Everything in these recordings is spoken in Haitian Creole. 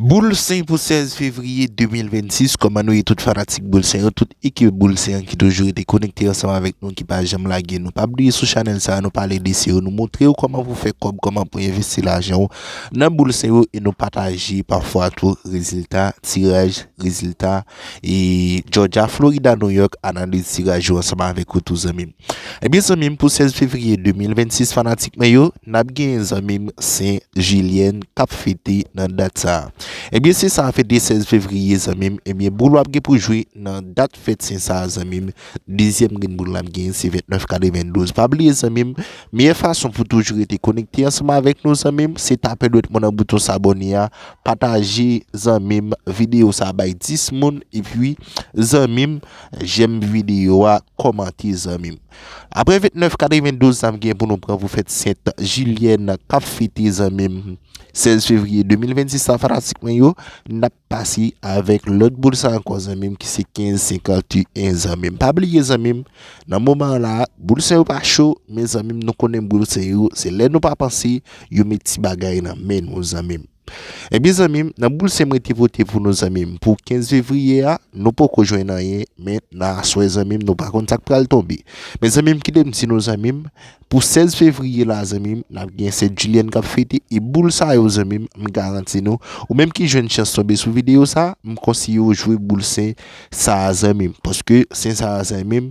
Boul Sen pou 16 fevriye 2026 Kòman nou ye tout fanatik Boul Sen yo tout ekip Boul Sen an ki toujou rete konekte ansanm avèk nou ki pa janm lage nou pa bliye sou chanèl sa nou pale de SEO nou moutrew kòman pou fè kòb kòman pou envesti lajanw nan Boul Sen yo e nou pataje pafwa tou rezilta tiraj rezilta ee Jòja Florida Nouyòk analiz tiraj yo ansanm avèk ou tou zanmim. Ebyen zanmim pou 16 fevriye 2026 fanatik mwen yo nap genyen zanmim sen jilyèn kap fete nan dat sa ebyen sen sa fete 16 fevriye zanmim ebyen boul wap gen pou jwe nan dat fèt sen sa zanmim dezyèm grenn boul lap genyen se 29 kale 22 pa bliye zanmim meyè fason pou toujou rete konekte ansanm avèk nou zanmim se tape dwèt mwen nan bouton sabone a pataje zanmim videyo sa bay 10 moun epi zanmim Jèm video a kòmante zanmim. Aprè 29 92 sa m gen pou nou pran pou fèt sent jilyèn kap fete zanmim 16 fevriye 2026 la fanatik mwen yo nap pase avèk lòt boul sa ankò zanmim ki se 15 51 zanmim pa bliye zanmim nan moman la boul sa yo pa cho men zanmim nou konnen boul sa yo se lè nou pa panse yo met ti bagay nan men nou zanmim. Ebyen zanmim nan boul sem rete vote pou nou zanmim pou 15 fevriye a nou poko jwenn anyen men nan aswè zanmim nou pa konn sak pral tonbe men zanmim kitem di nou zanmim pou 16 fevriye la zanmim nap gen sè Julienne kap fete e boul sa yo zanmim m garanti nou ou menm ki jwenn chans tonbe sou video sa m konseye ou jwe boul sen sa zanmim paske sen sa zanmim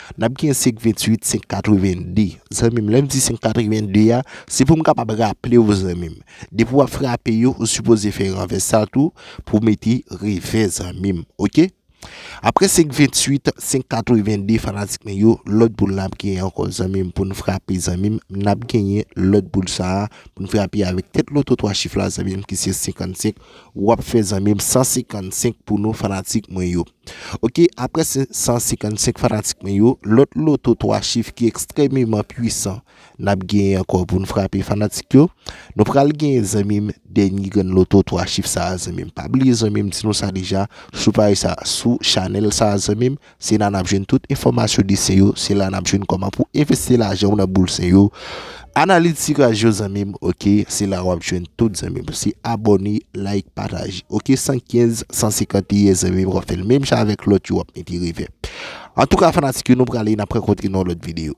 Nap gen 528 582 zanmim lèm di 582 a se poum kapab raplew zanmim depi wap frape yo ou sipoze fè renvès sa tou pou mete revè zanmim ok aprè 528 582 fanatik mwen yo lòt boul nap gen ankò zanmim poun frape zanmim nap genyen lòt boul sa poun frape avèk tèt loto 3 chif la zanmim ki se 55 wap fè zanmim 155 pou nou fanatik mwen yo. Ok, apre 155 fanatik mwen yo, lòt loto 3 chif ki ekstrememan pwisan nap genyen ankò poun frape fanatik yo. Nou pral genyen zanmim dènye grenn loto 3 chif sa a zanmim. Pa bliye zanmim di nou sa deja sou paj sa a, sou chanèl sa a zanmim, se la nap jwenn tout enfòmasyon de sen yo, se la nap jwenn kòman pou envesti lajanw nan boul sen yo. Analitika jo zanmim ok se la wap jwenn tout zanmim se abone like pataje ok 115 151 zanmim wap fèl menm jan avèk lòt yo wap mete revèb antouka fanatik yo nou prale nap rankontre nan yon lòt video.